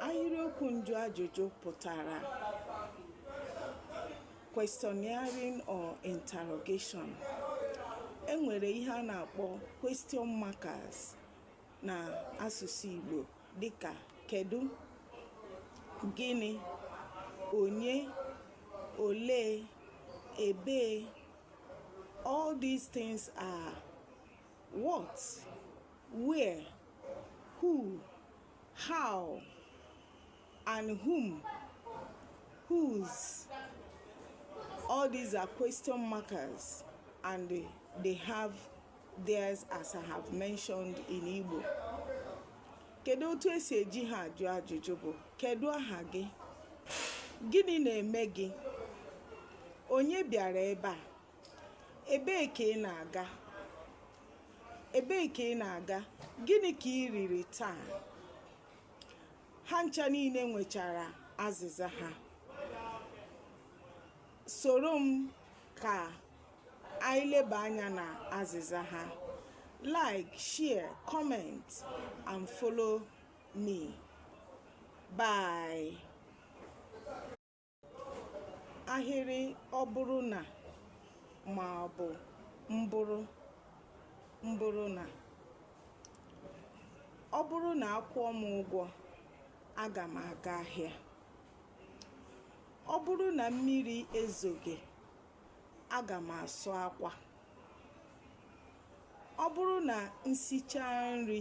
Ahịrịokwu njụ ajụjụ pụtara questioning or interrogation. E nwere ihe a na-akpọ question markers na asụsụ Igbo dịka kedu, gịnị, onye, olee, ebee. All these things are what, where, who, how and whom whose all these are question markers and they have theirs as I have mentioned in Igbo kedu otu esi eji ha ajụ ajụjụ bụ kedu aha gị gịnị na-eme gị onye bịara ebe a Ebee ka ị na-aga? Ebee ka ị na-aga? Gịnị ka ị riri taa? Ha ncha niile nwechara azịza ha. Soro m ka anyị leba anya na azịza ha. Like, share, comment and follow me. Bye. ahịrị ọ bụrụ na ma ọ bụ mbụrụ mbụrụ na ọ bụrụ na akwụọ m ụgwọ aga m aga ahịa ọ bụrụ na mmiri ezoghị aga m asụ akwa ọ bụrụ na m sichaa nri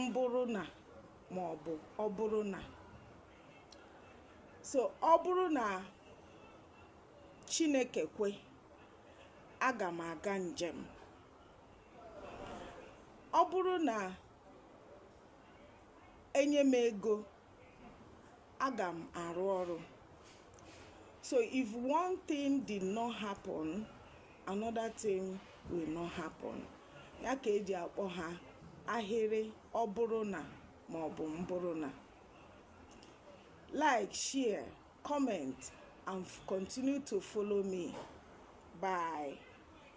mbụrụ na ma ọ bụ ọ bụrụ na so ọ bụrụ na Chineke kwe aga m aga njem ọ bụrụ na enye m ego aga m arụ ọrụ so if one thing did not happen another thing will not happen ya ka eji akpọ ha ahịrị ọ bụrụ na ma ọ bụ mbụrụ na like share comment and continue to follow me bye